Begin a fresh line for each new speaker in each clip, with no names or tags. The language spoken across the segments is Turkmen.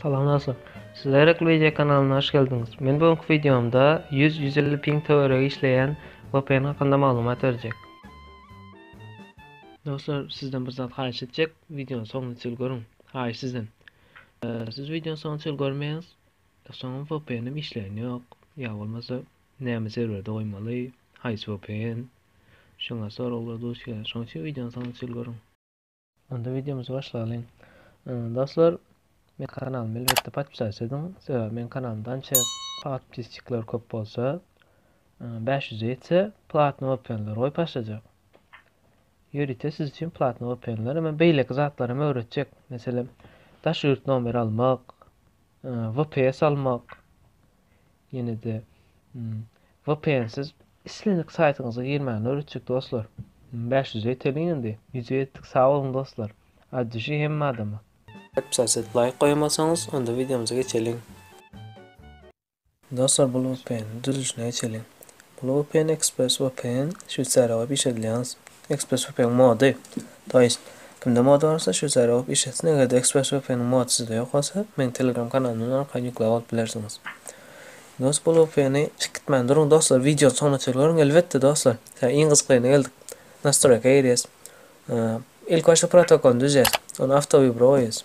Salam dostlar. Siz Aýrakly Media kanalyna hoş geldiňiz. Men bu günki wideomda 100-150 ping töweregi işleýän VPN hakynda maglumat berjek. Dostlar, sizden bir zat haýyş etjek. Wideony soňuna çenli görüň. Haýyş sizden. Siz wideony soňuna çenli görmeýäňiz. Soňam VPN-im işleýän ýok. Ýa bolmasa, näme serwerde goýmaly? Haýsy VPN? Şoňa soraglar duş gelýär. Şonuň üçin wideony soňuna çenli görüň. Onda wideomyzy başlalyň. Dostlar, men kanalymy elbetde podpisat ediň, sebäbi men kanalymda ança podpisçikler köp bolsa, 500 ýetse platny VPN-ler goýup başlajak. Ýörite siz üçin platny VPN-ler hem beýleki zatlar hem öwretjek. Meselem, daş ýurt nomeri almak, VPS almak, Ýene-de VPN-siz islendik saýtyňyza girmäni öwretjek dostlar. Bäş ýüze ýeteliň indi. Ýüze ýetdik sag boluň dostlar. At düşi hemme adama. Gepja siz laýk goýamasaňyz onda wideomyza geçeliň. Dostlar bul VPN-niň düzülişine geçeliň. Bul vpn express vpn şweysariýa bolup iş edilýäns express vpn mody to ýest kimde mody barsa şweysariýa bolup iş etsin egerde express vpn mody sizde ýok bolsa meň telegram kanalymdan arkaly ýüklap alyp bilersiňiz dos bul vpn çyk gitmän duruň doslar wideony soňuna çenli görüň elbetde doslar hä iň gyzyklyna geldik nastroýka girýäs ilk başda protokolyny düzýäs ony awto wybro goýýas.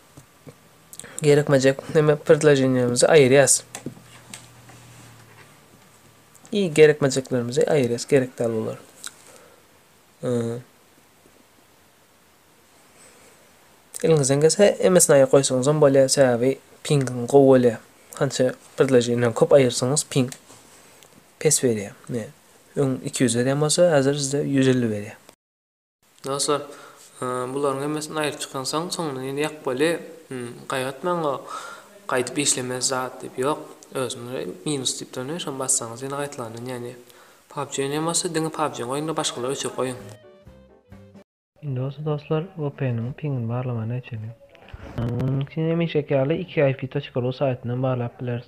Gerekmejek neme predloženiýamyzy aýyrýas. I gerekmejeklerimizi aýyrýas, gerek däl bular. Eliňizden gelse hemmesini aýyryp goýsaňyz hem bolýar, sebäbi pingiň gowy bolýar. Hança predloženiýany köp aýyrsaňyz ping pes berýär. Öň 200 berýän bolsa, häzir sizde 150 berýär. Dostlar, bularyň hemmesini aýryp çykansoň, soňundan ýene ýakmaly. Gaýgatmaň-a, gaýdyp işlemez zat diýip, ýok. Özüňize minus diýip durun, şony bassaňyz ýene gaýtalandan ýanýar. PUBG oýnaýan bolsa, diňe PUBG-ňi oýna-da, başgalary öçürip goýuň. Indi bolsa dostlar, VPN-iň piňini barlamagyny öçürelim. Munuň üçin hemişeki ýaly ikip.ru saýtyndan barlap bileris.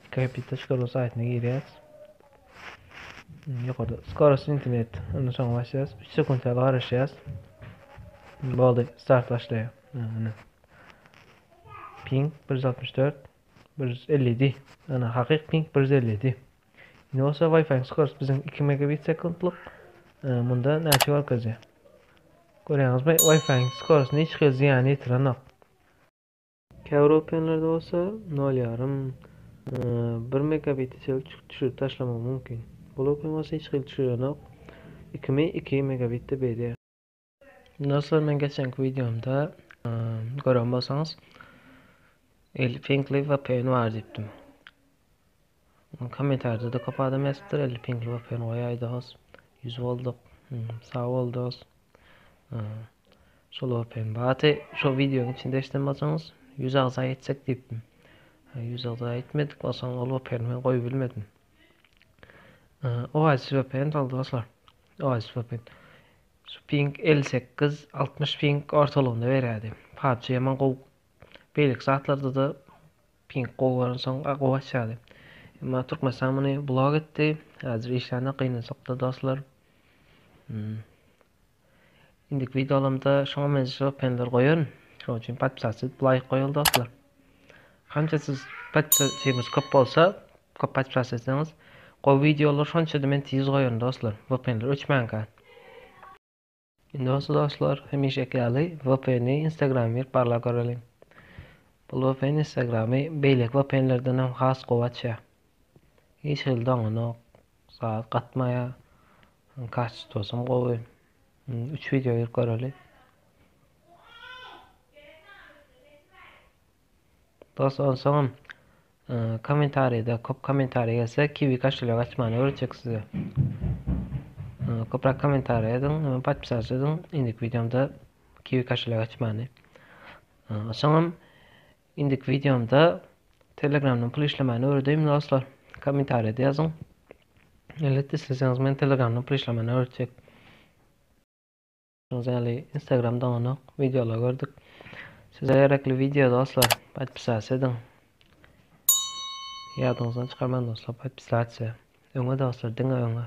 Ikip.ru saýtyna girýäs. Ýokarda skorost internet. Onda soň başlaýas. 3 sekunt ýaly garaşýas. Boldy. Start başlaýar. Ana. Ping 164 157. Ana hakyk ping 157. Indi bolsa Wi-Fi skorost biziň 2 megabit sekundlyk. Munda näçe görkezýär? Görýäňizmi? Wi-Fi skorost hiç hili zyýan ýetirenok. Käbir VPN-lerde bolsa nol ýarym, bir megabiti çenli düşürip taşlamak mümkin. Bu VPN bolsa hiç hili düşürenok. Ikimi iki megabitde berýär. Dostlar men geçenki videomda gören bolsaňyz Elfingli VPN bar diýipdim. Komentarýada-da köp adam ýazypdyr, Elli piňkli bop ýörün goýaý dos. Ýüz bolduk. Sag bol dos. Şol bop ýörün. Baty şo wideonyň içinde eşiden bolsaňyz, ýüz agza ýetsek diýipdim. Ýüz agza ýetmedik, onsoň ol bop ýörüni men goýup bilmedim. Oasis bop ýörün sag bol doslar. Oasis bop ýörün. Şu piňk elli sekiz, altmyş piňk ortalygynda berýärdi. PUBG ýaman gowy. Beýleki zatlarda-da Ping gowy bolansoň gowy açýardy. Emma Türkmenistan muny blok etdi. Häzir işlände gynansakda dostlar. Indiki wideolarymda şoňa meňzeş öpenler goýaryn. Şoň üçin podpisasy laýk goýaly dostlar. Hança siz podpisasyňyz köp bolsa, köp podpisas etseňiz, gowy wideolar şonça-da men tiz goýaryn dostlar. Öpenler öçmänkä. Indi bolsa dostlar, hemişeki ýaly VPN-i Instagram girip barlap göreliň. Bu VPN Instagramy beýleki VPN-lerden hem has gowy açýar. Hiç hili doňanok, zat gatmaýar. Kastosum gowy. Üç wideo girip göreli. Dos onsoňam komentarida kop komentariý gelse kiwi kaşelek açmany öwretjek size. Koprak komentariý ediň we podpisas ediň indiki wideomda kiwi kaşelek açmany. Onsoňam indiki wideomda telegramdan pul işlemani öwredeýin dostlar. Komentariyada ýazyň. Elbetde isleseňiz men telegramdan pul işlemani öwretjek. Gördüňiz ýaly instagram doňanok wideolar gördük. Size gerekli video dostlar podpisasiýa ediň. Ýadyňyzdan çykarmaň dostlar podpisasiýa. Öňe dostlar diňe öňe.